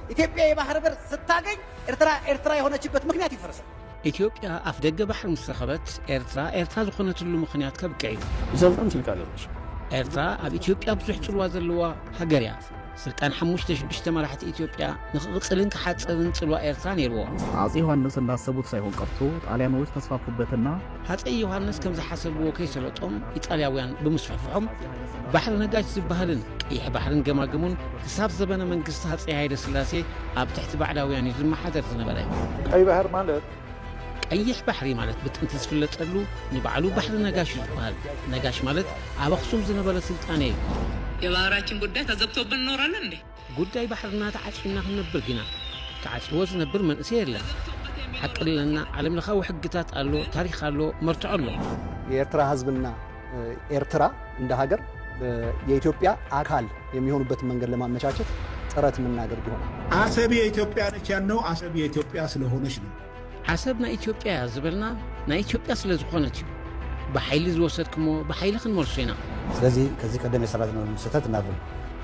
ኢትዮጵያ የባህር በር ስታገኝ ኤርትራ ኤርትራ የሆነችበት ምክንያት ይፈርሳል። ኢትዮጵያ ኣፍደገ ባሕሪ ምስ ረኸበት ኤርትራ ኤርትራ ዝኾነትሉ ምኽንያት ከብቅዕ እዩ። ብዘልጣን ስልጣን የለሽ። ኤርትራ ኣብ ኢትዮጵያ ብዙሕ ጽልዋ ዘለዋ ሃገር እያ። ስልጣን ሓሙሽተ ሽዱሽተ መራሕቲ ኢትዮጵያ ንክቕጽልን ክሓጽርን ጽልዋ ኤርትራ ነይርዎ። አጼ ዮሐንስ እንዳሰቡት ሳይሆን ቀርቶ ጣሊያኖች ተስፋፉበትና ሃፀይ ዮሃንስ ከም ዝሓሰብዎ ከይሰለጦም ኢጣልያውያን ብምስፍሕፍሖም ባሕሪ ነጋሽ ዝበሃልን ቀይሕ ባሕርን ገማግሙን ክሳብ ዘበነ መንግስቲ ሃፀይ ሃይለ ስላሴ ኣብ ትሕቲ ባዕዳውያን እዩ ዝመሓደር ዝነበረ ቀይ ባህር ማለት ቀይሕ ባሕሪ ማለት ብጥንቲ ዝፍለጠሉ ንባዕሉ ባሕሪ ነጋሽ እዩ ዝበሃል ነጋሽ ማለት ኣብ ኣኽሱም ዝነበረ ስልጣኔ እዩ የባህራችን ጉዳይ ተዘግቶብን እኖራለን እንዴ? ጉዳይ ባሕርና ተዓጽዩና ክንነብር ዲና? ተዓጽይዎ ዝነብር መንእሰይ የለን። ሓቂ ኣለና ዓለም ለኻዊ ሕግታት ኣሎ፣ ታሪኽ ኣሎ፣ መርትዖ ኣሎ። የኤርትራ ህዝብና ኤርትራ እንደ ሀገር የኢትዮጵያ አካል የሚሆኑበትን መንገድ ለማመቻቸት ጥረት ምናደርግ ይሆናል። አሰብ የኢትዮጵያ ነች ያልነው አሰብ የኢትዮጵያ ስለሆነች ነው። ዓሰብ ናይ ኢትዮጵያ እያ ዝበልና ናይ ኢትዮጵያ ስለ ዝኾነት እዩ። ብሓይሊ ዝወሰድክሞ ብሓይሊ ክንመልሶ ኢና። ስለዚ ከዚ ቀደም የሰራዝናሉ ስህተት እናርም።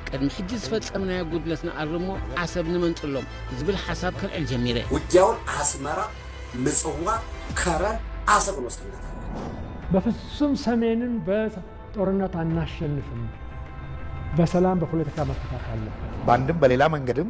ቅድሚ ሕጂ ዝፈጸምናዮ ጉድለት ንኣርሞ ዓሰብ ንመንጥሎም ዝብል ሓሳብ ከልዕል ጀሚረ። ውጊያውን ኣስመራ፣ ምጽዋር፣ ከረን፣ ዓሰብን ውስጥ እናተረከበ። በፍጹም ሰሜንን በጦርነት አናሸንፍም በሰላም በፖለቲካ መፈታት አለበት። በአንድም በሌላ መንገድም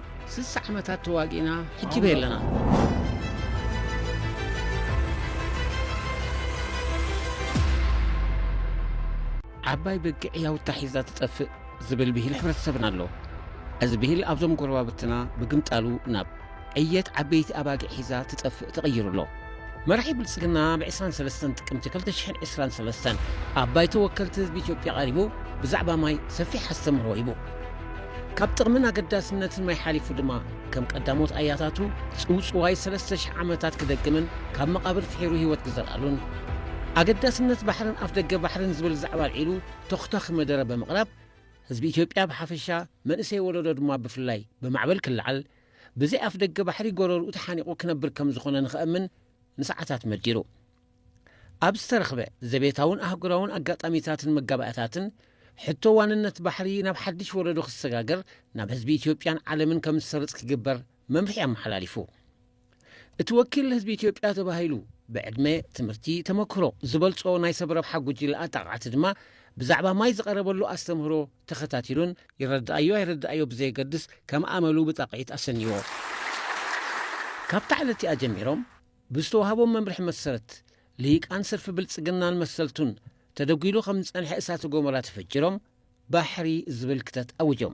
ስሳ ዓመታት ተዋጊእና ሕጂ በይ ኣለና። ዓባይ በጊዕ ያውታ ሒዛ ትጠፍእ ዝብል ብሂል ሕብረተሰብና ኣሎ እዚ ብሂል ኣብዞም ጎረባብትና ብግምጣሉ ናብ ዕየት ዓበይቲ ኣባጊዕ ሒዛ ትጠፍእ ተቐይሩ ኣሎ መራሒ ብልፅግና ኣብ ዕስራን ሰለስተን ጥቅምቲ ክልተ ሽሕን ዕስራን ሰለስተን ኣብ ባይቶ ወከልቲ ህዝቢ ኢትዮጵያ ቀሪቡ ብዛዕባ ማይ ሰፊሕ ኣስተምህሮ ሂቡ። ካብ ጥቕምን ኣገዳስነትን ማይ ሓሊፉ ድማ ከም ቀዳሞት ኣያታቱ ጽውጽዋይ ሰለስተ ሽሕ ዓመታት ክደግምን ካብ መቓብር ፍሒሩ ህይወት ክዘርኣሉን ኣገዳስነት ባሕርን ኣፍደገ ባሕርን ዝብል ዛዕባ ኣልዒሉ ተኹታኺ መደረ ብምቕራብ ህዝቢ ኢትዮጵያ ብሓፈሻ መንእሰይ ወለዶ ድማ ብፍላይ ብማዕበል ክለዓል ብዘይ ኣፍደገ ባሕሪ ጎረርኡ ተሓኒቑ ክነብር ከም ዝኾነ ንኸእምን ንሰዓታት መዲሩ። ኣብ ዝተረኽበ ዘቤታውን ኣህጉራውን ኣጋጣሚታትን መጋባእያታትን፣ ሕቶ ዋንነት ባሕሪ ናብ ሓድሽ ወለዶ ክሰጋገር ናብ ህዝቢ ኢትዮጵያን ዓለምን ከም ዝሰርጽ ክግበር መምርሒ ኣመሓላሊፉ። እቲ ወኪል ህዝቢ ኢትዮጵያ ተባሂሉ ብዕድመ፣ ትምህርቲ፣ ተመክሮ ዝበልጾ ናይ ሰብ ረብሓ ጉጅለ ኣጣቓዕቲ ድማ ብዛዕባ ማይ ዝቐረበሉ ኣስተምህሮ ተኸታቲሉን ይረድኣዮ ኣይረድኣዮ ብዘየገድስ ከም ኣመሉ ብጣቕዒት ኣሰንይዎ። ካብታ ዕለት'ቲኣ ጀሚሮም ብዝተዋህቦም መምርሒ መሰረት ልሂቃን ሰልፊ ብልጽግናን መሰልቱን ተደጒሉ ከም ዝጸንሐ እሳተ ጎመራ ተፈጂሮም፣ ባሕሪ ዝብል ክተት ኣውጆም።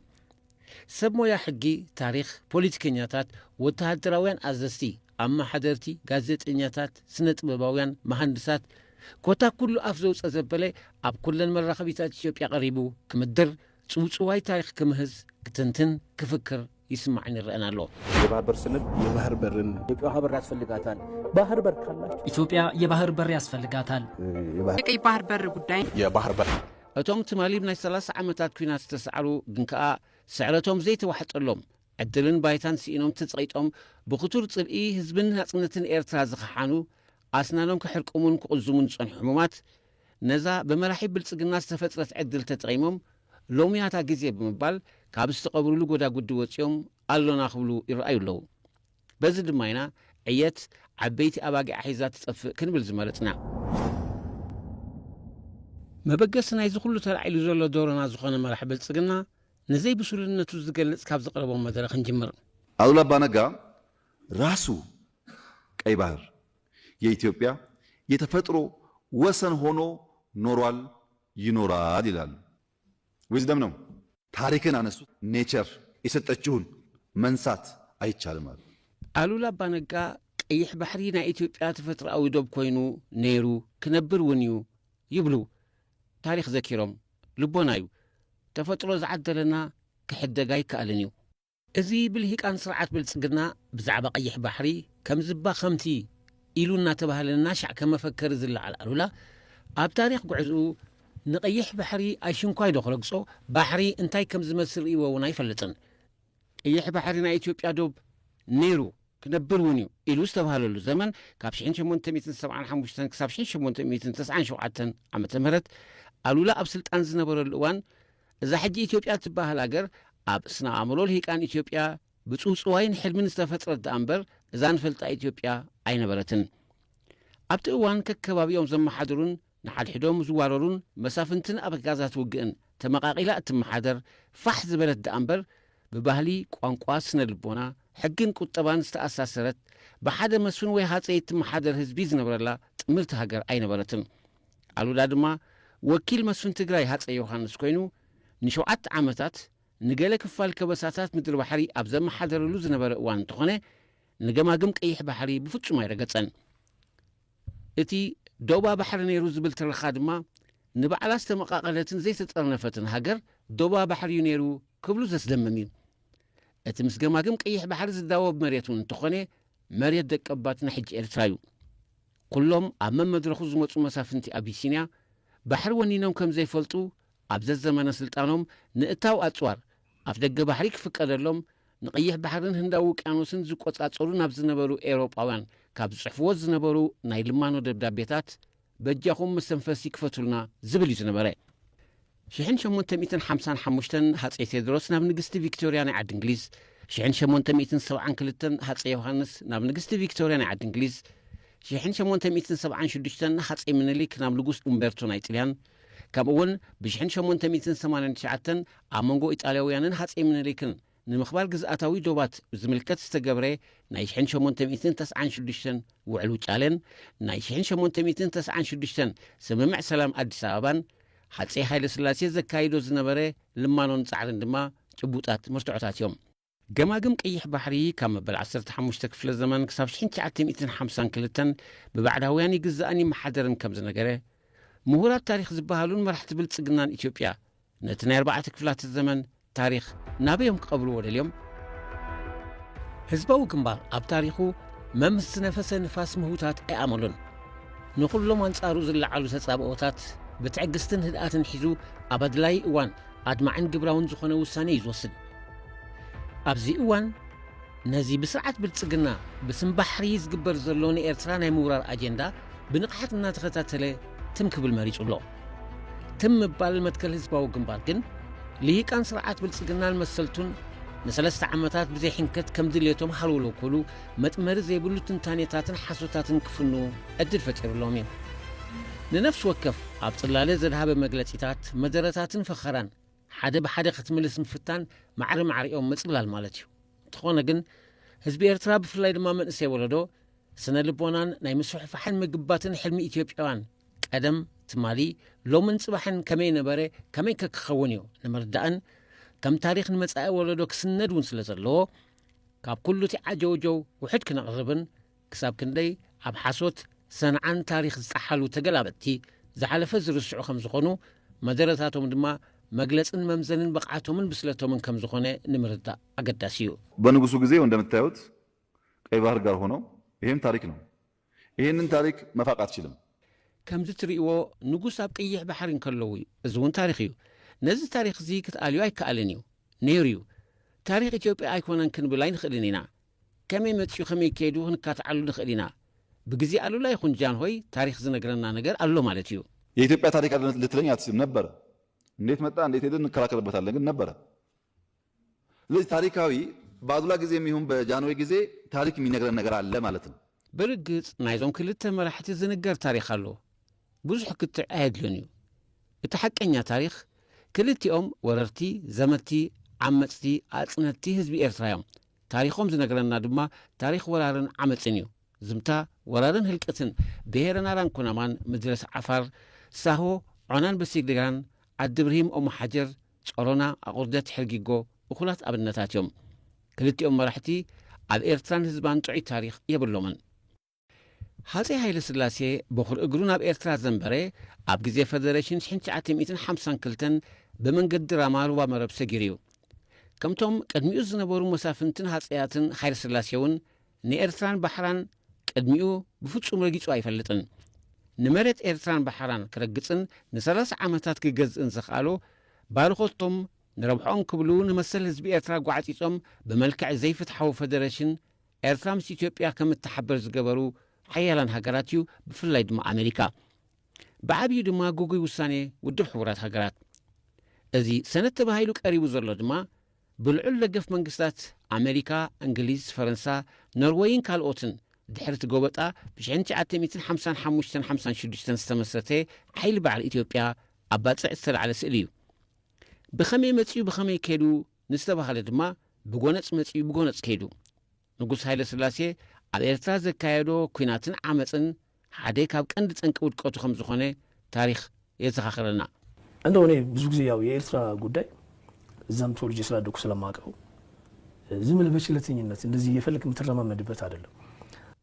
ሰብ ሞያ ሕጊ፣ ታሪኽ፣ ፖሊቲከኛታት፣ ወተሃደራውያን ኣዘዝቲ፣ ኣመሓደርቲ፣ ጋዜጠኛታት፣ ስነ-ጥበባውያን፣ መሃንድሳት፣ ኮታ ኩሉ ኣፍ ዘውጸ ዘበለ ኣብ ኩለን መራኸቢታት ኢትዮጵያ ቀሪቡ ክምድር፣ ጽውጽዋይ ታሪኽ ክምህዝ፣ ክትንትን፣ ክፍክር፣ ይስማዕን ይረኣን ኣሎ። የባህር በር ስንል የባህር በርን። ኢትዮጵያ ውሃ በር ያስፈልጋታል። ባህር በር ካላችሁ። ኢትዮጵያ የባህር በር ያስፈልጋታል። የቀይ ባህር በር ጉዳይ። የባህር በር እቶም ትማሊ ብናይ ሰላሳ ዓመታት ኲናት ዝተሳዕሩ ግን ከኣ ስዕረቶም ዘይተዋሕጠሎም ዕድልን ባይታን ስኢኖም ተጸቒጦም ብኽቱር ጽልኢ ህዝብን ናጽነትን ኤርትራ ዝኸሓኑ ኣስናኖም ክሕርቅሙን ክቕዝሙን ዝጸንሑ ሕሙማት ነዛ ብመራሒ ብልጽግና ዝተፈጥረት ዕድል ተጠቒሞም ሎሚያታ ግዜ ብምባል ካብ ዝተቐብሩሉ ጎዳጉዲ ወጺኦም ኣሎና ክብሉ ይረኣዩ ኣለዉ። በዚ ድማ ኢና ዕየት ዓበይቲ ኣባጊዓ ሒዛ ትጠፍእ ክንብል ዝመረጽና። መበገሲ ናይዚ ኩሉ ተላዒሉ ዘሎ ዶሮና ዝኾነ መራሒ ብልጽግና ንዘይብሱልነቱ ዝገልጽ ካብ ዘቕረቦም መደረ ክንጅምር። ኣሉላ ኣባ ነጋ ራሱ ቀይ ባህር የኢትዮጵያ የተፈጥሮ ወሰን ሆኖ ኖሯል ይኖራል ይላሉ ዊዝደም ነው። ታሪክን ኣነሱ ኔቸር የሰጠችሁን መንሳት ኣይቻልም ኣሉ። ኣሉላ ኣባ ነጋ ቀይሕ ባሕሪ ናይ ኢትዮጵያ ተፈጥሮኣዊ ዶብ ኮይኑ ነይሩ ክነብር እውን እዩ ይብሉ ታሪኽ ዘኪሮም። ልቦና እዩ ተፈጥሮ ዝዓደለና ክሕደግ ኣይከኣልን እዩ። እዚ ብልሂቃን ስርዓት ብልጽግና ብዛዕባ ቀይሕ ባሕሪ ከምዚባ ከምቲ ኢሉ እናተባህለ እናሻዕ ከም መፈከሪ ዝለዓል ኣሉላ ኣብ ታሪኽ ጉዕዝኡ ንቀይሕ ባሕሪ ኣይሽንኳይዶ ክረግጾ ባሕሪ እንታይ ከም ዝመስል ርእይዎ እውን ኣይፈልጥን። ቀይሕ ባሕሪ ናይ ኢትዮጵያ ዶብ ነይሩ ክነብር እውን እዩ ኢሉ ዝተባህለሉ ዘመን ካብ ሽሕን ሸሞንተ ሚእትን ሰብዓን ሓሙሽተን ክሳብ ሽሕን ሸሞንተ ሚእትን ተስዓን ሸውዓተን ዓመተ ምህረት ኣሉላ ኣብ ስልጣን ዝነበረሉ እዋን እዛ ሕጂ ኢትዮጵያ እትበሃል ሃገር ኣብ ስነ ኣእምሮ ልሂቃን ኢትዮጵያ ብጽውጽዋይን ሕልምን ዝተፈጥረት ደኣ እምበር እዛ ንፈልጣ ኢትዮጵያ ኣይነበረትን። ኣብቲ እዋን ከከባቢኦም ዘመሓድሩን ንሓድሕዶም ዝዋረሩን መሳፍንትን ኣበጋዛት ውግእን ተመቓቒላ እትመሓደር ፋሕ ዝበለት ደኣ እምበር ብባህሊ፣ ቋንቋ፣ ስነ ልቦና፣ ሕግን ቁጠባን ዝተኣሳሰረት ብሓደ መስፍን ወይ ሃጸይ እትመሓደር ህዝቢ ዝነብረላ ጥምርቲ ሃገር ኣይነበረትን። ኣሉላ ድማ ወኪል መስፍን ትግራይ ሃፀይ ዮሃንስ ኮይኑ ንሸውዓተ ዓመታት ንገለ ክፋል ከበሳታት ምድሪ-ባሕሪ ኣብ ዘመሓደረሉ ዝነበረ እዋን እንተኾነ ንገማግም ቀይሕ ባሕሪ ብፍፁም ኣይረገፀን። እቲ ዶባ ባሕሪ ነይሩ ዝብል ትረኻ ድማ ንባዕላ ዝተመቓቐለትን ዘይተጠርነፈትን ሃገር ዶባ ባሕሪ እዩ ነይሩ ክብሉ ዘስደምም እዩ። እቲ ምስ ገማግም ቀይሕ ባሕሪ ዝዳወብ መሬት እውን እንተኾነ መሬት ደቀባትና ሕጂ ኤርትራ እዩ። ኩሎም ኣብ መመድረኹ ዝመጹ መሳፍንቲ ኣቢሲንያ ባሕሪ ወኒኖም ከም ዘይፈልጡ ኣብ ዘዘመነ ስልጣኖም ንእታው ኣጽዋር ኣፍደገ ባሕሪ ክፍቀደሎም ንቐይሕ ባሕርን ህንዳዊ ውቅያኖስን ዝቆጻጸሩ ናብ ዝነበሩ ኤውሮጳውያን ካብ ዝጽሕፍዎ ዝነበሩ ናይ ልማኖ ደብዳቤታት በጃኹም መስተንፈሲ ክፈቱልና ዝብል እዩ ዝነበረ። ሽሕን ሸሞንተ ሚእትን ሓምሳን ሓሙሽተን ሃጸይ ቴድሮስ ናብ ንግስቲ ቪክቶርያ ናይ ዓዲ እንግሊዝ ሽሕን ሸሞንተ ሚእትን ሰብዓን ክልተን ሃጸይ ዮሃንስ ናብ ንግስቲ ቪክቶርያ ናይ ዓዲ እንግሊዝ ሽሕን ሸሞንተ ሚእትን ሰብዓን ሽዱሽተን ሃጸይ ምኒልክ ናብ ንጉስ ኡምቤርቶ ናይ ጥልያን ከምኡውን ብሽሕን ሸሞንተ ሚእትን ሰማንያን ትሽዓተን ኣብ መንጎ ኢጣልያውያንን ሃጸይ ምኒልክን ንምኽባር ግዝኣታዊ ዶባት ብዝምልከት ዝተገብረ ናይ ሽሕን ሸሞንተ ሚእትን ተስዓን ሽዱሽተን ውዕል ውጫለን ናይ ሽሕን ሸሞንተ ሚእትን ተስዓን ሽዱሽተን ስምምዕ ሰላም ኣዲስ ኣበባን ሃጸይ ሃይለስላሴ ዘካይዶ ዝነበረ ልማኖን ጻዕርን ድማ ጭቡጣት መርትዖታት እዮም። ገማግም ቀይሕ ባሕሪ ካብ መበል ዓሰርተ ሓሙሽተ ክፍለ ዘመን ክሳብ ሽሕን ትሽዓተ ሚእትን ሓምሳን ክልተን ብባዕዳውያን ይግዛእን ይመሓደርን ከም ዝነገረ፣ ምሁራት ታሪኽ ዝበሃሉን መራሕቲ ብልጽግናን ኢትዮጵያ ነቲ ናይ ኣርባዕተ ክፍላተ ዘመን ታሪኽ ናበዮም ክቐብርዎ ደልዮም? ህዝባዊ ግንባር ኣብ ታሪኹ መምስ ዝነፈሰ ንፋስ ምህውታት ኣይኣመሎን። ንኹሎም ኣንጻሩ ዝለዓሉ ተጻብኦታት ብትዕግስትን ህድኣትን ሒዙ ኣብ ኣድላዪ እዋን ኣድማዕን ግብራውን ዝኾነ ውሳኔ እዩ ዝወስድ። ኣብዚ እዋን ነዚ ብስርዓት ብልጽግና ብስም ባሕሪ ዝግበር ዘሎ ንኤርትራ ናይ ምውራር ኣጀንዳ ብንቕሓት እናተኸታተለ ትም ክብል መሪጹ ኣሎ። ትም ምባል መትከል ህዝባዊ ግንባር ግን ልሂቃን ስርዓት ብልጽግናን መሰልቱን ንሰለስተ ዓመታት ብዘይ ሕንከት ከም ድልየቶም ሃልውለው ክብሉ መጥመሪ ዘይብሉ ትንታኔታትን ሓሶታትን ክፍኑ ዕድል ፈጢሩሎም እዩ ንነፍሲ ወከፍ ኣብ ጽላለ ዘድሃበ መግለጺታት መደረታትን ፈኸራን ሓደ ብሓደ ክትምልስ ምፍታን ማዕሪ ማዕሪኦም ምጽላል ማለት እዩ እንተኾነ ግን ህዝቢ ኤርትራ ብፍላይ ድማ መንእሰይ ወለዶ ስነ ልቦናን ናይ ምስፍሕፋሕን ምግባትን ሕልሚ ኢትዮጵያውያን ቀደም፣ ትማሊ፣ ሎምን ጽባሕን ከመይ ነበረ፣ ከመይከ ክኸውን እዩ ንምርዳእን ከም ታሪኽ ንመጻኢ ወለዶ ክስነድ እውን ስለ ዘለዎ ካብ ኩሉ እቲ ዓጀውጀው ውሑድ ክነቕርብን ክሳብ ክንደይ ኣብ ሓሶት ሰንዓን ታሪኽ ዝጠሓሉ ተገላበጥቲ ዝሓለፈ ዝርስዑ ከም ዝኾኑ መደረታቶም ድማ መግለጽን መምዘንን ብቕዓቶምን ብስለቶምን ከም ዝኾነ ንምርዳእ ኣገዳሲ እዩ። በንጉሱ ጊዜ እንደምታዩት ቀይ ባህር ጋር ሆኖ ይሄም ታሪክ ነው። ኢህንን ታሪክ መፋቅ ኣትችልም። ከምዚ ትሪእዎ ንጉስ ኣብ ቅይሕ ባሕሪ እንከለዉ እዩ እዚ ውን ታሪኽ እዩ ነዚ ታሪኽ እዚ ክትኣልዮ ኣይከኣልን እዩ ነይሩ እዩ ታሪኽ ኢትዮጵያ ኣይኮነን ክንብል ኣይንኽእልን ኢና ከመይ መጺኡ ከመይ ከይዱ ክንካትዓሉ ንኽእል ኢና ብግዜ ኣሉላ ይኹን ጃንሆይ ታሪኽ ዝነግረና ነገር ኣሎ ማለት እዩ። የኢትዮጵያ ታሪክ ኣለ ልትለኝ ኣትችልም ነበረ እንዴት መጣ እንዴት ሄደ እንከራከርበታለን ግን ነበረ ስለዚ ታሪካዊ ብኣሉላ ግዜም ይሁን በጃንሆይ ግዜ ታሪክ ሚነግረን ነገር ኣለ ማለት ነው። ብርግጽ ናይዞም ክልተ መራሕቲ ዝንገር ታሪኽ ኣሎ ብዙሕ ክትዕ ኣየድልዮን እዩ እቲ ሓቀኛ ታሪኽ ክልቲኦም ወረርቲ ዘመቲ ዓመጽቲ ኣጽነቲ ህዝቢ ኤርትራ እዮም ታሪኾም ዝነግረና ድማ ታሪኽ ወራርን ዓመጽን እዩ ዝምታ ወራርን ህልቅትን ብሄረ ናራን ኩናማን ምድረስ ዓፋር ሳሆ ዖናን በሲግሊራን ዓዲ ብርሂም ኦምሓጀር ጸሮና፣ ኣቑርደት ሕርጊጎ እኹላት ኣብነታት እዮም። ክልቲኦም መራሕቲ ኣብ ኤርትራን ህዝባን ጥዑይ ታሪኽ የብሎምን። ሃጸይ ሃይለስላሴ በኹሪ እግሩ ናብ ኤርትራ ዘንበረ ኣብ ግዜ ፈደረሽን ሽሕን ትሽዓተ ሚእትን ሓምሳን ክልተን ብመንገዲ ራማ ሩባ መረብ ሰጊሩ እዩ። ከምቶም ቅድሚኡ ዝነበሩ መሳፍንትን ሃጸያትን ሃይለስላሴውን ንኤርትራን ባሕራን ቅድሚኡ ብፍጹም ረጊጹ ኣይፈልጥን። ንመሬት ኤርትራን ባሕራን ክረግጽን ንሰላሳ ዓመታት ክገዝእን ዘኽኣሎ፣ ባርኾቶም ንረብሕኦም ክብሉ ንመሰል ህዝቢ ኤርትራ ጓዕጺጾም ብመልክዕ ዘይፍትሓዊ ፈደረሽን ኤርትራ ምስ ኢትዮጵያ ከም እትሓበር ዝገበሩ ሓያላን ሃገራት እዩ፣ ብፍላይ ድማ ኣመሪካ። ብዓብዩ ድማ ግጉይ ውሳኔ ውድብ ሕቡራት ሃገራት። እዚ ሰነድ ተባሂሉ ቀሪቡ ዘሎ ድማ ብልዑል ደገፍ መንግስታት ኣመሪካ፣ እንግሊዝ፣ ፈረንሳ፣ ኖርወይን ካልኦትን ድሕሪ እቲ ጎበጣ ብሽሕን ትሽዓተ ሚእትን ሓምሳን ሓሙሽተን ሓምሳን ሽዱሽተን ዝተመስረተ ሓይሊ ባዕል ኢትዮጵያ ኣብ ባጽዕ ዝተላዕለ ስእሊ እዩ። ብኸመይ መጺኡ ብኸመይ ከይዱ ንዝተባህለ ድማ ብጎነጽ መጺኡ ብጎነጽ ከይዱ። ንጉስ ሃይለስላሴ ኣብ ኤርትራ ዘካየዶ ኩናትን ዓመጽን ሓደ ካብ ቀንዲ ጠንቂ ውድቀቱ ከም ዝኾነ ታሪኽ የዘኻኽረና። እንደው እኔ ብዙ ጊዜ ያው የኤርትራ ጉዳይ እዛም ተወልጄ ስላደኩ ስለማቀው ዝም ብለህ በቸለተኝነት እንደዚህ እየፈለክ የምትረማመድበት አይደለም።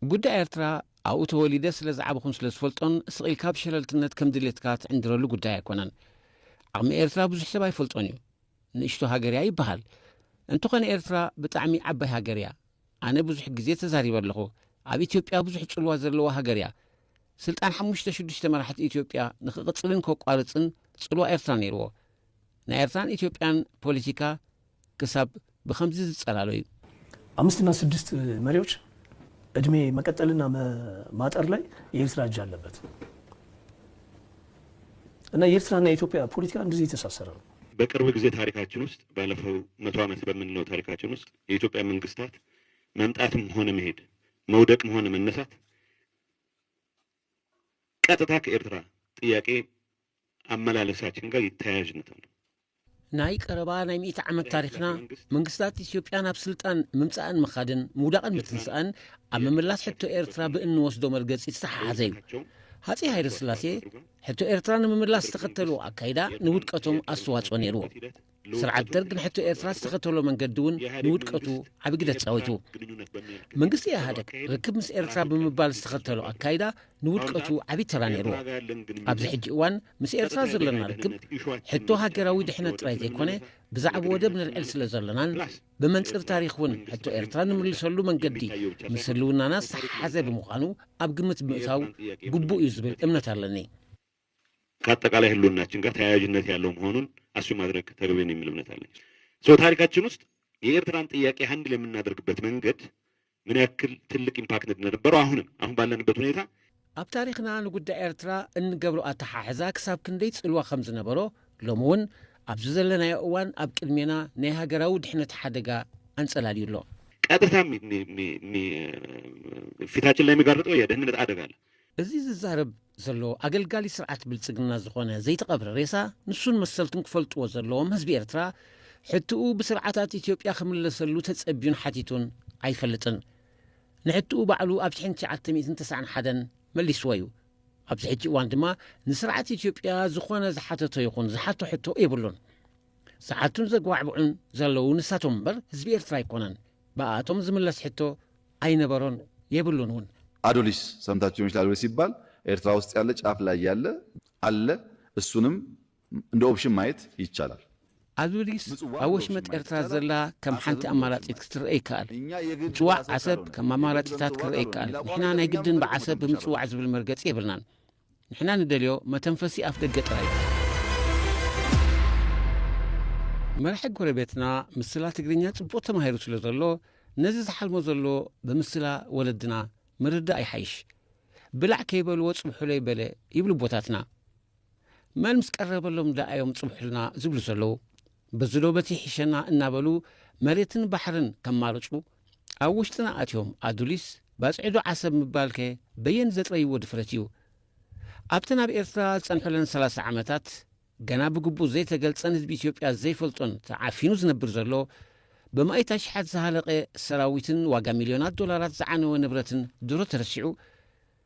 ጉዳይ ኤርትራ ኣብኡ ተወሊደ ስለዝዓበኹን ስለዝፈልጦን ስቅ ኢልካ ብሸለልትነት ከም ድሌትካ ትዕንድረሉ ጉዳይ ኣይኮነን። ዓቅሚ ኤርትራ ብዙሕ ሰብ ኣይፈልጦን እዩ። ንእሽቶ ሃገር እያ ይበሃል እንተኾነ ኤርትራ ብጣዕሚ ዓባይ ሃገር እያ ኣነ ብዙሕ ግዜ ተዛሪበ ኣለኹ ኣብ ኢትዮጵያ ብዙሕ ጽልዋ ዘለዋ ሃገር እያ ስልጣን ሓሙሽተ ሽዱሽተ መራሕቲ ኢትዮጵያ ንክቕጽልን ከቋርጽን ጽልዋ ኤርትራ ነይርዎ ናይ ኤርትራን ኢትዮጵያን ፖለቲካ ክሳብ ብከምዚ ዝጸላሎ እዩ አምስት እና ስድስት መሪዎች እድሜ መቀጠልና ማጠር ላይ የኤርትራ እጅ አለበት እና የኤርትራና የኢትዮጵያ ፖለቲካ እንደዚህ የተሳሰረ ነው። በቅርብ ጊዜ ታሪካችን ውስጥ ባለፈው መቶ ዓመት በምንለው ታሪካችን ውስጥ የኢትዮጵያ መንግስታት መምጣትም ሆነ መሄድ መውደቅም ሆነ መነሳት ቀጥታ ከኤርትራ ጥያቄ ኣመላለሳችን ጋር ይተያያዥነት ኣሎ። ናይ ቀረባ ናይ ሚእቲ ዓመት ታሪክና መንግስታት ኢትዮጵያ ናብ ስልጣን ምምፃእን ምኻድን ምውዳቕን ምትንሳእን ኣብ ምምላስ ሕቶ ኤርትራ ብእንወስዶ መርገፂ ዝተሓሓዘ እዩ ሃፀይ ሃይለስላሴ ሕቶ ኤርትራ ንምምላስ ዝተኸተልዎ ኣካይዳ ንውድቀቶም ኣስተዋጽኦ ነይርዎ። ስርዓት ደርግ ንሕቶ ኤርትራ ዝተኸተሎ መንገዲ እውን ንውድቀቱ ዓቢ ግደ ተጻዊቱ። መንግስቲ ኢህኣደግ ርክብ ምስ ኤርትራ ብምባል ዝተኸተሎ ኣካይዳ ንውድቀቱ ዓቢ ተራ ነይርዎ። ኣብዚ ሕጂ እዋን ምስ ኤርትራ ዘለና ርክብ ሕቶ ሃገራዊ ድሕነት ጥራይ ዘይኮነ ብዛዕብ ወደብ ነልዕል ስለ ዘለናን ብመንጽር ታሪኽ እውን ሕቶ ኤርትራ ንምልሰሉ መንገዲ ምስ ህልውናና ዝተሓሓዘ ብምዃኑ ኣብ ግምት ምእታው ግቡእ እዩ ዝብል እምነት ኣለኒ። ከኣጠቃላይ ህልውናችን ጋር ተያያዥነት ያለው መሆኑን ኣስዩም ማድረግ ተገቢ ነው የሚል እምነት አለኝ። ሶ ታሪካችን ውስጥ የኤርትራን ጥያቄ ሃንድል የምናደርግበት መንገድ ምን ያክል ትልቅ ኢምፓክት እንደነበረው አሁንም አሁን ባለንበት ሁኔታ ኣብ ታሪኽና ንጉዳይ ኤርትራ እንገብሮ ኣተሓሕዛ ክሳብ ክንደይ ጽልዋ ከም ዝነበሮ ሎሚ እውን ኣብዚ ዘለናዮ እዋን ኣብ ቅድሜና ናይ ሃገራዊ ድሕነት ሓደጋ ኣንጸላልዩ ኣሎ። ቀጥታ ፊታችን ላይ የሚጋርጠው የደህንነት አደጋ አለ። እዚ ዝዛረብ ዘሎ ኣገልጋሊ ስርዓት ብልጽግና ዝኾነ ዘይተቐብረ ሬሳ ንሱን መሰልቱን ክፈልጥዎ ዘለዎም ህዝቢ ኤርትራ ሕትኡ ብስርዓታት ኢትዮጵያ ክምለሰሉ ተጸብዩን ሓቲቱን ኣይፈልጥን። ንሕትኡ ባዕሉ ኣብ ሽሕን ትሽዓተ ሚእትን ተሰዓን ሓደን መሊስዎ እዩ። ኣብዚ ሕጂ እዋን ድማ ንስርዓት ኢትዮጵያ ዝኾነ ዝሓተቶ ይኹን ዝሓቶ ሕቶ የብሉን። ዝሓቱን ዘጓዕብዑን ዘለዉ ንሳቶም እምበር ህዝቢ ኤርትራ ኣይኮነን። ብኣኣቶም ዝምለስ ሕቶ ኣይነበሮን የብሉን እውን። ኣዶሊስ ሰምታችሁ ሊሆን ይችላል ኣዶሊስ ሲባል ኤርትራ ውስጥ ያለ ጫፍ ላይ ያለ ኣለ እሱንም እንደ ኦፕሽን ማየት ይቻላል። ኣዱሊስ ኣብ ወሽመጥ ኤርትራ ዘላ ከም ሓንቲ ኣማራጺት ክትረአ ይከኣል። ምጽዋዕ ዓሰብ ከም ኣማራጺታት ክረአ ይከኣል። ንሕና ናይ ግድን ብዓሰብ ብምጽዋዕ ዝብል መርገጺ የብልናን። ንሕና ንደልዮ መተንፈሲ ኣፍደገ ጥራይ እዩ። መራሒ ጎረቤትና ምስላ ትግርኛ ጽቡቕ ተማሂሩ ስለ ዘሎ ነዚ ዝሓልሞ ዘሎ ብምስላ ወለድና ምርዳእ ይሓይሽ። ብላዕ ከይበልዎ ጽብሑለይ በለ ይብሉ ቦታትና። መን ምስ ቀረበሎም ደኣ እዮም ጽብሑልና ዝብሉ ዘለዉ። በዚ ዶ በቲ ይሕሸና እናበሉ መሬትን ባሕርን ከማርጹ ኣብ ውሽጥና ኣትዮም ኣዱሊስ ባጽዒዶ ዓሰብ ምባልከ በየን ዘጥረይዎ ድፍረት እዩ? ኣብተን ኣብ ኤርትራ ዝጸንሑለን ሰላሳ ዓመታት ገና ብግቡእ ዘይተገልጸን ህዝቢ ኢትዮጵያ ዘይፈልጦን ተዓፊኑ ዝነብር ዘሎ ብማኢት ኣሽሓት ዝሃለቐ ሰራዊትን ዋጋ ሚልዮናት ዶላራት ዝዓነወ ንብረትን ድሮ ተረሲዑ?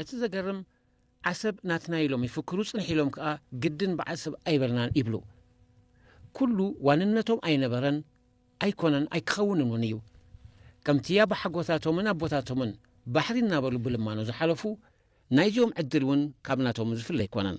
እቲ ዘገርም ዓሰብ ናትና ኢሎም ይፍክሩ ጽንሕ ኢሎም ከኣ ግድን ብዓሰብ ኣይበልናን ይብሉ። ኩሉ ዋንነቶም ኣይነበረን ኣይኮነን ኣይክኸውንን ውን እዩ። ከምቲ ኣባሓጎታቶምን ኣቦታቶምን ባሕሪ እናበሉ ብልማኖ ዝሓለፉ ናይዚኦም ዕድል ውን ካብ ናቶም ዝፍለ ኣይኮነን።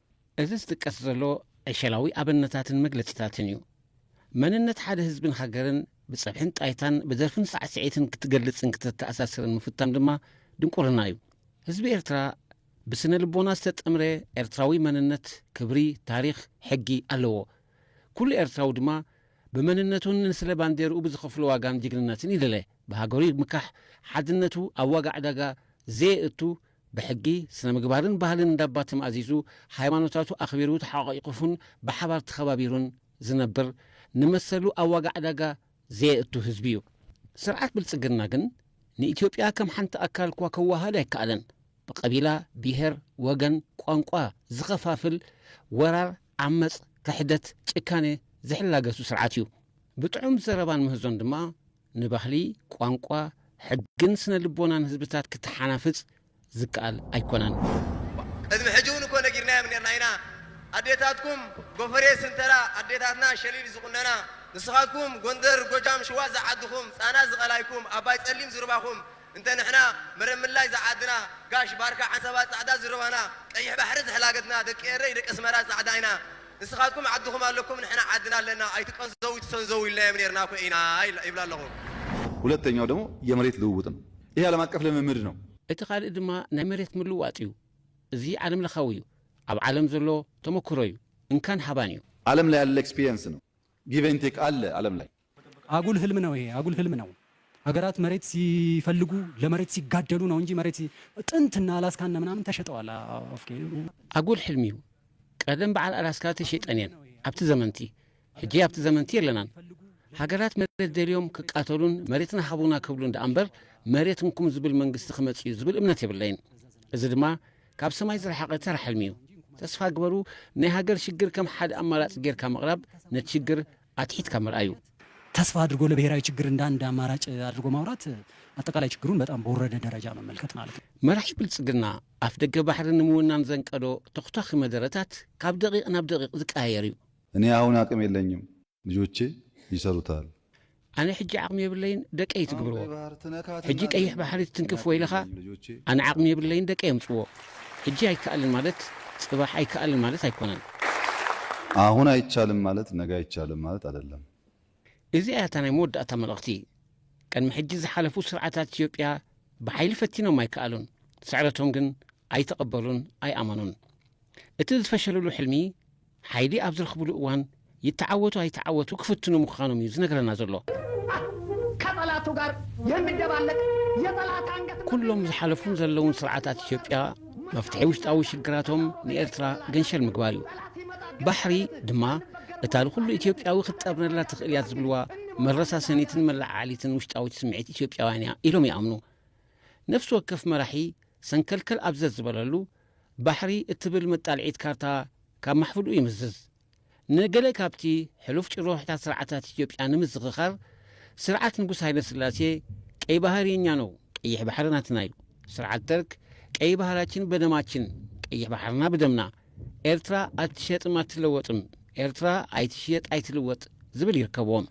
እዚ ዝጥቀስ ዘሎ ዕሸላዊ ኣብነታትን መግለጺታትን እዩ። መንነት ሓደ ህዝብን ሃገርን ብጸብሕን ጣይታን ብደርፍን ሳዕስዒትን ክትገልጽን ክተተኣሳስርን ምፍታን ድማ ድንቁርና እዩ። ህዝቢ ኤርትራ ብስነ ልቦና ዝተጠምረ ኤርትራዊ መንነት፣ ክብሪ፣ ታሪኽ፣ ሕጊ ኣለዎ። ኩሉ ኤርትራዊ ድማ ብመንነቱን ንስለ ባንዴርኡ ብዝኸፍሎ ዋጋን ጅግንነትን ይልለ። ብሃገሩ ይምካሕ፣ ሓድነቱ ኣብ ዋጋ ዕዳጋ ዘየእቱ ብሕጊ፣ ስነ-ምግባርን ባህልን እንዳባ ተማእዚዙ፣ ሃይማኖታቱ ኣኽቢሩ ተሓቛቒቑፉን ብሓባር ተኸባቢሩን ዝነብር፣ ንመሰሉ ኣብ ዋጋ ዕዳጋ ዘየእቱ ህዝቢ እዩ። ስርዓት ብልጽግና ግን ንኢትዮጵያ ከም ሓንቲ ኣካል'ኳ ከወሃሃድ ኣይከኣለን። ብቀቢላ፣ ብሄር፣ ወገን፣ ቋንቋ ዝኸፋፍል ወራር፣ ዓመጽ፣ ክሕደት፣ ጭካኔ ዝሕላገቱ ስርዓት እዩ። ብጥዑም ዘረባን ምህዞን ድማ ንባህሊ፣ ቋንቋ፣ ሕግን ስነ-ልቦናን ህዝብታት ክተሓናፍጽ ዝከኣል ኣይኮነን። ቅድሚ ሕጂ እውን እኮ ነጊርናዮም ኔርና ኢና ኣዴታትኩም ጎፈሬ ስንተራ ኣዴታትና ሸሊል ዝቁነና ንስኻትኩም ጎንደር ጎጃም ሽዋ ዝዓድኹም ጻና ዝቀላይኩም ኣባይ ጸሊም ዝሩባኹም እንተ ንሕና ምርምላይ ጸዓድና ጋሽ ባርካ ዓሰባ ጻዕዳ ዝርባና ቀይሕ ባሕሪ ዝሕላገትና ደቂ ኤረይ ደቂ ኣስመራ ጻዕዳ ኢና ንስኻትኩም ዓድኹም ኣለኩም ንሕና ዓድና ኣለና ኣይትቀንዘዉ ኣይትሰንዘዉ ኢልናዮም ኔርና እኮ ኢና ይብላ ኣለኹ። ሁለተኛው ደግሞ የመሬት ልውውጥ ነው። ይሄ ዓለም አቀፍ ልምምድ ነው። እቲ ካልእ ድማ ናይ መሬት ምልዋጥ እዩ። እዚ ዓለም ለኻዊ እዩ። ኣብ ዓለም ዘሎ ተመኩሮ እዩ። እንካን ሃባን እዩ። ዓለም ላይ ያለ ኤክስፒሪየንስ ነው። ጊቭ ኤንድ ቴክ አለ ዓለም ላይ። ኣጉል ህልም ነው ይሄ ኣጉል ህልም ነው ሀገራት መሬት ሲፈልጉ ለመሬት ሲጋደሉ ነው እንጂ መሬት ጥንት እና አላስካ እነ ምናምን ተሸጠዋል ኦፍኬ ኣጉል ሕልሚ እዩ ቀደም በዓል ኣላስካ ተሸጠን እየን ኣብቲ ዘመንቲ ሕጂ ኣብቲ ዘመንቲ የለናን ሃገራት መሬት ደልዮም ክቃተሉን መሬትና ሃቡና ክብሉን ደኣ እምበር መሬት እንኩም ዝብል መንግስቲ ክመጽ እዩ ዝብል እምነት የብለይን እዚ ድማ ካብ ሰማይ ዝረሓቐ ተራ ሕልሚ እዩ ተስፋ ግበሩ ናይ ሃገር ሽግር ከም ሓደ ኣማራጺ ጌርካ ምቕራብ ነቲ ሽግር ኣትሒትካ ምርኣዩ። ተስፋ ኣድርጎ ለብሄራዊ ችግር እንደ ኣንድ ኣማራጭ ኣድርጎ ማውራት ኣጠቃላይ ችግሩን በጣም በወረደ ደረጃ መመልከት ማለት ነው። መራሒ ብልጽግና ኣፍደገ ባሕሪ ንምውናን ዘንቀዶ ተኹታኺ መደረታት ካብ ደቂቕ ናብ ደቂቕ ዝቀያየር እዩ። እኔ ኣሁን ኣቅም የለኝም ልጆቼ ይሰሩታል። ኣነ ሕጂ ዓቅሚ የብለይን ደቀይ ትግብርዎ። ሕጂ ቀይሕ ባሕሪ ትትንክፍ ወይለኻ ኣነ ዓቅሚ የብለይን ደቀይ የምጽዎ። ሕጂ ኣይከኣልን ማለት ጽባሕ ኣይከኣልን ማለት ኣይኮነን። ኣሁን ኣይቻልም ማለት ነገ ኣይቻልም ማለት ኣደለም። እዚኣ እያ እታ ናይ መወዳእታ መልእኽቲ። ቅድሚ ሕጂ ዝሓለፉ ስርዓታት ኢትዮጵያ ብሓይሊ ፈቲኖም ኣይከኣሉን። ስዕረቶም ግን ኣይተቐበሉን ኣይኣመኑን። እቲ ዝፈሸልሉ ሕልሚ፣ ሓይሊ ኣብ ዝረኽብሉ እዋን ይተዓወቱ ኣይተዓወቱ ክፍትኑ ምዃኖም እዩ ዝነግረና ዘሎ። ከጠላቱ ጋር የሚደባለቅ የጠላት አንገት ኩሎም ዝሓለፉን ዘለውን ስርዓታት ኢትዮጵያ መፍትሒ ውሽጣዊ ሽግራቶም ንኤርትራ ገንሸል ምግባር እዩ። ባሕሪ ድማ እታ ንኹሉ ኢትዮጵያዊ ክትጠርነላ ትኽእል እያ ዝብልዋ መረሳሰኒትን መለዓዓሊትን ውሽጣዊት ስምዒት ኢትዮጵያውያን እያ ኢሎም ይኣምኑ። ነፍሲ ወከፍ መራሒ ሰንከልከል ኣብ ዘዝበለሉ ባሕሪ እትብል መጣልዒት ካርታ ካብ ማሕፍድኡ ይምዝዝ። ንገለ ካብቲ ሕሉፍ ጭርሖታት ስርዓታት ኢትዮጵያ ንምዝኽኻር፣ ስርዓት ንጉስ ሃይለስላሴ፣ ቀይ ባህር የኛ ነው፣ ቀይሕ ባሕሪ ናትና እዩ፣ ስርዓት ደርግ፣ ቀይ ባህራችን በደማችን፣ ቀይሕ ባሕርና ብደምና፣ ኤርትራ ኣትሸጥም ኣትለወጥም፣ ኤርትራ ኣይትሽየጥ ኣይትልወጥ ዝብል ይርከብዎም።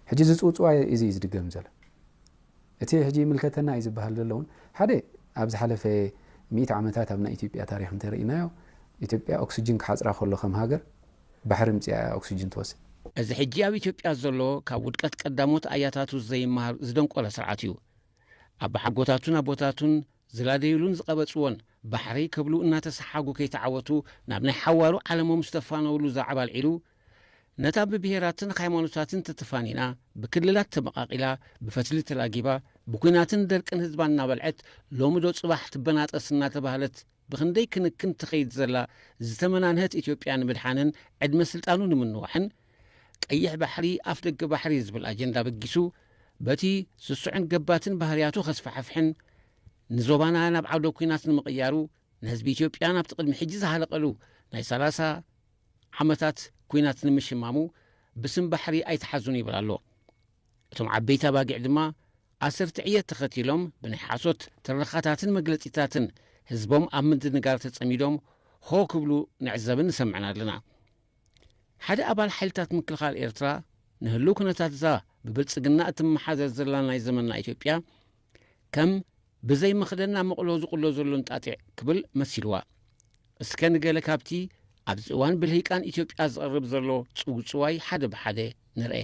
ሕጂ እዚ ጽውጽዋይ እዚ እዩ ዝድገም ዘሎ። እቲ ሕጂ ይምልከተና እዩ ዝበሃል ዘሎ እውን ሓደ ኣብ ዝሓለፈ ሚእቲ ዓመታት ኣብ ናይ ኢትዮጵያ ታሪኽ እንተርኢናዮ ኢትዮጵያ ኦክስጅን ክሓጽራ ከሎ ከም ሃገር ባሕሪ ምጺኣ እያ ኦክስጅን ትወስድ። እዚ ሕጂ ኣብ ኢትዮጵያ ዘሎ ካብ ውድቀት ቀዳሞት ኣያታቱ ዘይመሃር ዝደንቆረ ስርዓት እዩ። ኣባሓጎታቱን ኣቦታቱን ዝላደዩሉን ዝቐበጽዎን ባሕሪ ክብሉ እናተሰሓጉ ከይተዓወቱ ናብ ናይ ሓዋሩ ዓለሞም ዝተፋነዉሉ ዛዕባ ኣልዒሉ ነታ ብብሄራትን ሃይማኖታትን ተተፋኒና፣ ብክልላት ተመቓቒላ፣ ብፈትሊ ተላጊባ፣ ብኲናትን ደርቅን ህዝባ እናበልዐት፣ ሎሚ ዶ ፅባሕ ትበናጠስ እናተባህለት ብኽንደይ ክንክን ትኸይድ ዘላ ዝተመናንሀት ኢትዮጵያ ንምድሓንን ዕድመ ስልጣኑ ንምንዋሕን ቀይሕ ባሕሪ ኣፍ ደገ ባሕሪ ዝብል ኣጀንዳ በጊሱ በቲ ስሱዕን ገባትን ባህርያቱ ከስፋሕፍሕን ንዞባና ናብ ዓውደ ኲናት ንምቕያሩ ንህዝቢ ኢትዮጵያ ናብቲ ቅድሚ ሕጂ ዝሃለቐሉ ናይ ሰላሳ ዓመታት ኩናት ንምሽማሙ ብስም ባሕሪ ኣይትሓዙን ይብል ኣሎ። እቶም ዓበይቲ ኣባጊዕ ድማ ኣሰርቲ ዕየት ተኸቲሎም ብናይ ሓሶት ትረኻታትን መግለጺታትን ህዝቦም ኣብ ምድንጋር ተጸሚዶም ሆ ክብሉ ንዕዘብን ንሰምዕን ኣለና። ሓደ ኣባል ሓይልታት ምክልኻል ኤርትራ ንህልው ኩነታት'ዛ ብብልጽግና እትመሓደር ዘላ ናይ ዘመንና ኢትዮጵያ ከም ብዘይ መኽደና መቕሎ ዝቕሎ ዘሎ እንጣጢዕ ክብል መሲልዋ። እስከ ንገለ ካብቲ ኣብዚ እዋን ብልሂቃን ኢትዮጵያ ዝቐርብ ዘሎ ጽውጽዋይ ሓደ ብሓደ ንርኤ።